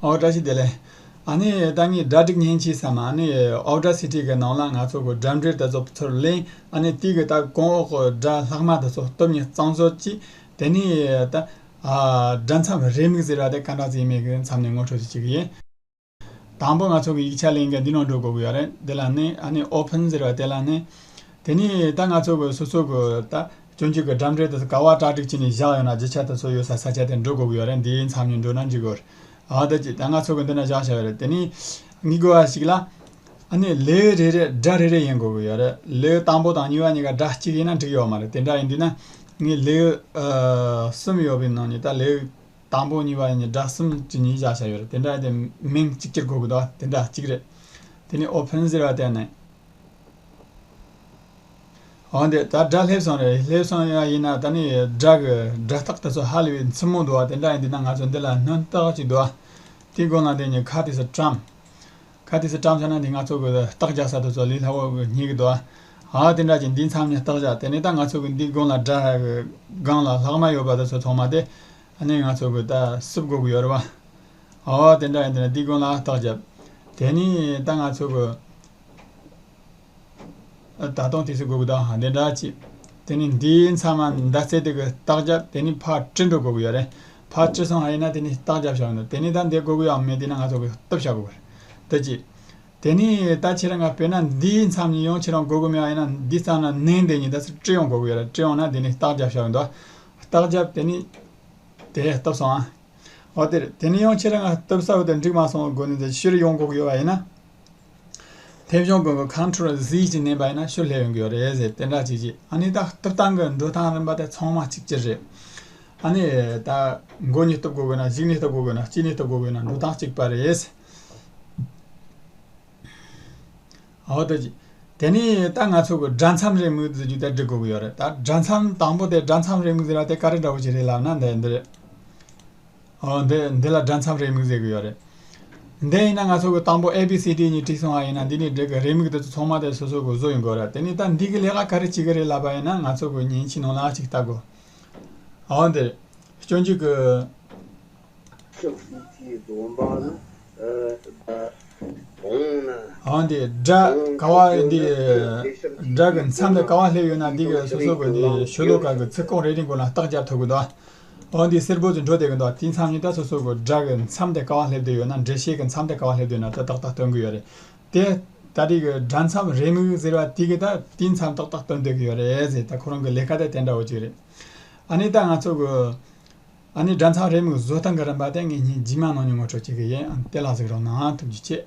ཨའོ་བཀྲ་ཤིས་བདེ་ལེགས། ཨ་ནེ་ཡའི་བརྟག་གཉིས་སྒྲ་སྒྲིག་གཉེན་གྱིས་སམ་ཨ་ནེ་ཡའི་ཨའོ་བཀྲ་ཤིས་ཁྲིད་ཀྱི་ནང་ལ་ང་ཚོ་གོ་སྒྲ་འབྲེལ་དེ་ཚོ་ཚུར་གླེང་ཨ་ནེ་ཏིའི་གི་བརྟག་གོང་འོག་གོ་སྒྲ་ལྷག་མ་དེ་ཚོ་སྟོབས་ཉི་གཙང་བཟོ་ཅིག་དེ་ནས་ད། སྒྲ་མཚམས་རེ་མིག་ཟེར་བ་དེ་ག་འདྲ་ཟིག་མིག་གི་མཚམས་ནས་ངོ་འཕྲོད་ཅིག་ཡིན། དང་པོ་ང་ཚོ་གི་ཡིག་ཆ་གླེང་མཁན་འདི་ནང་འགྲོ་དགོས་ཀྱི་ཡོད་རེད་དེ་ལ་ནི་ཨ་ནེ open ཟེར་བ་དེ་ལ་ནི། དེ་ནས་ད་ང་ཚོ་གི་སོ་སོ་གི་ད། སྤྱོད་འཇུག་གི་འགྲམ་འགྲེལ་དུ་དཀའ་བ་སྐྲག་སྒྲིག་བྱས་ནས་བཞག་ཡོད་ན་རྒྱུ་ཆ་དེ་ཚོ་ཡོད་སར་ས་ཆ་དེར་འགྲོ་དགོས་ཀྱི་ཡོད་རེད་འདིའི་མཚམས་ཉིན་འགྲོ་ན་འཇུག་དགོས་རེད། ཨ་ད་ཀྱིས་ད་ང་ཚོ་གི་འདི་ན་བཞག་བཞག་ཡོད་རེད་དེ་ནི། ངེས་དགོས་བ་ཞིག་ལ། ཨ་ནི་ལེའུ་རེ་རེར་སྒྲ་རེ་རེ་ཡིན་དགོས་ཀྱི་ཡོད་རེད་ལེའུ་དང་པོ་དང་གཉིས་བ་གཉིས་ཀ་སྒྲ་གཅིག་ཡིན་ན་འགྲིག་ཡོད་མ་རེད་དེ་འདྲ་ཡིན་དུས་ན། ངས་ལེའུ། གསུམ་ཡོད་པའི་ནང་ཉིད་ད་ལེའུ། དང་པོ་གཉིས་བ་གཉིས་སྒྲ་གསུམ་གྱི་གཉིས་བཞག་བཞག་ཡོད་རེད་དེ་འདྲ་ཡིན་དུས་མིང་གཅིག་གྱུར་དགོས་ཀྱི་འདུག་ཨ་དེ་འདྲ་གཅིག་རེད། དེ་ནི་ཨོ་ཕན་ཟེར་བ་དེ་ནི། འོན་ཏེ་ད་སྒྲ་ལྷེབ་སོང་རེད་ལྷེབ་སོང་ཡང་ཡིན་ན་ད་ནི་སྒྲ་གི་སྒྲ་རྟགས་དེ་ཚོ་ཧ་ལས་པའི་མཚན་མོ་འདུག་བ་དེ་འདྲ་ཡིན་དུས་ན་ང་ཚོས་འདི་ལ་སྣོན་རྟགས་ཅིག་འདུག་བ་དེ་དགོས་ན་དེ་ནི་ཁ་ཏིས་བཀྲམ། ཁ་ཏིས་བཀྲམ་བྱས་ན་དེ་ང་ཚོ་གི་རྟགས་རྒྱག་ས་དེ་ཚོ་ལས་སླ་བོ་རྙེད་གི་འདུག་བ་དེ་འདྲ་གྱི་འདི་མཚམས་ནས་རྟགས་བཞག་དེ་ནས་ད་ང་ཚོ་གི་འདི་དགོན་ལ་སྒྲ་ཧ་གི་སྒང་ལ་ལྷག་མ་ཡོད་པ་དེ་ཚོ་ཐོག་མ་དེ་ནས་ང་ཚོ་གི་ད་སིབ་དགོས་གི་ཡོད་རེད་བ། འོ་དེ་འདྲ་ཡིན་དུས་ན་འདི་དགོན་ལ་རྟགས་བརྒྱབ། དེ་ནས་ད་ང་ཚོ་གི། ད་དུང་དེ་ཚོའི་དགོས་དགོས་དང་དེ་འདྲ་ཅི། དེ་ནི་འདིའི་ཚང་མ་ཟླ་ཚེས་དེ་གི་རྟགས་བརྒྱ་དེ་ནི་ཕར་སྤྲིན་དྲུག་དགོས་ཀྱི་ཡོད་རེད། ཕར་སྤྲིན་སོང་ཡིན་ན་དེ་ནི་རྟགས་བརྒྱ་བཞག་འདུག་དེ་ནི་ད་འདི་དགོས་ཀྱིའང་མེད་དེ་ནི་ང་ཚོ་གི་སྟོབས་བཞག་དགོས་པ་རེད། དེ་ཅི། དེ་ནི་ད་ཁྱེད་རང་ག་བོད་ན་འདིའི་མཚམས་ཉིད་ཡོང་ཁྱེད་རང་དགོས་དགོས་མེད་ཡང་ཡིན་ན་འདི་ཙམ་ན་ནིང་དེ་ཉིད་ད་ཚོ་སྤྲིན་ཡོང་དགོས་ཀྱི་ཡོད་རེད་སྤྲིན་ཡོང་ན་དེ་ནི་རྟགས་བརྒྱ་བཞག་གི་འདུག་རྟགས་བརྒྱ་དེ་ནི། དེ་སྟོབས་སོང་ཨ། འོ་དེར་དེ་ནི་ཡང་ཁྱེད་རང་ག་སྟོབས་གསར་བ་དེ་འགྲིག་མ་སོང་བ་དགོས་ནི་ད་ཅི་ཞིག་རེ་ཡོང་དགོས་ཀྱི་ཡོད་པ་ཡིན་ན། ཐེ་བྱུང་མགོན་པོ་ཁམས་ཕྲུག་ར་བཟི་ཞིག་ནས་བས་ན་ཤུ་ལྷད་ཡོང་གི་རེད་ཟེར་དེ་འདྲ་ཅིག་བྱས་ཨ་ནི་ད་སྟོབས་ཐང་གི་འགྲོ་སྟངས་རིམ་པ་དེ་ཚང་མ་གཅིག་གྱུར་རེད་ཨ་ནི་ད་མགོ་གཉིས་སྟོབས་དགོས་དགོས་ན་གཞིག་ནས་སྟོབས་དགོས་དགོས་ན་སྐྱིད་ནས་སྟོབས་དགོས་དགོས་ན་འགྲོ་སྟངས་གཅིག་པ་རེད། ཨོ་ཏོ་ཅིག་དེ་ནི་ད་ང་ཚོ་གི་སྦྲ་མཚམས་རེའི་མིག་བཟི་རྒྱུ་དེ་འབྲི་དགོས་ཀྱི་ཡོད་རེད་ད་སྦྲ་མཚམས་དང་པོ་དེ་སྦྲ་མཚམས་རེའི་མིག་བཟི་ར་དེ་ག་རེ་འདྲ་བོ་ཞིག་རེད་ལབ་ན་འདི་འདི་རེད། འདི་འདི་ལ་སྒྲ་མཚམས་རེ་མིག་བཟོས་གི་ཡོད་རེད། འདི་ཡིན་ན་ང་ཚོ་གི་དང་པོ A B C D གཉིས་བྲིས་སོང་བ་ཡིན་ན་འདི་ནི་འདི་གི་རེ་མིག་དེ་ཚོ་ཚང་མ་དེ་སོ་སོ་གི་བཟོ་ཡིན་དགོས་རེད་དེ་ནི་ད་འདི་གི་ལས་ཀ་ག་རེ་བྱེད་གི་རེད་ལབ་པ་ཡིན་ན་ང་ཚོ་གི་ཉིན་གཅིག་ནང་ལ་ཅིག་བལྟ་དགོས། འོན་ཏེ། སྐྱོན་བརྗོད་ཀྱི། ཆབ་སྲིད་ཀྱི་སྡོམ་པ་ལ་དགོངས་ན། འོན་ཏེ། སྒྲ་ཀ་བ་འདི། སྒྲ་གི་མཚམས་ལས་ཀ་བ་སླེབས་ཡོད་ན་འདི་གི་སོ་སོ་གི་འདི་ཤོད་ལོ་ཀ་གི་ཚིག་རྐང་རེ་རེའི་མགོ་ལ་རྟགས་སྦྱར་ཐུབ་གི་འདུག་འོན་ཏེ་སེར་པོ་ཚོས་འགྲོ་བདེ་གི་འདུག་དེའི་མཚམས་གཉིས་ད་སོ་སོར་སྒོ་དགྲ་གི་མཚམས་དེ་ག་བ་སླེབས་བསྡད་ཡོད་ན་འདྲེ་ཤེས་ཀྱི་མཚམས་དེ་ག་བ་སླེབས་བསྡད་ཡོད་ན་ད་ཏག་ཏག་སྟོན་གི་ཡོད་རེད་དེ། ད་རེས་ཀྱི་དགྲ་མཚམས་རེ་མིག་ཟེར་བ་དེ་གི་ད་དེའི་མཚམས་ཏག་ཏག་སྟོན་སྡོད་གི་ཡོད་རེད་ཟེར་ད་ཁོ་རང་གི་ལས་ཀ་དེ་དེ་འདྲ་བོ་ཅིག་རེད། ཨ་ནི་ད་ང་ཚོ་གི་ཨ་ནི་དགྲ་མཚམས་རེ་མིག་བཟོ་སྟངས་གི་རིམ་པ་དེ་ངེད་གཉིས་རྗེས་མ་ནང་ནས་ངོ་སྤྲོད་བྱེད་གི་ཡིན་ཨ་ནི་དེ་ལ་གཟིགས་རོགས་གནང་ཐུབ་རྒྱུ་གཅེས།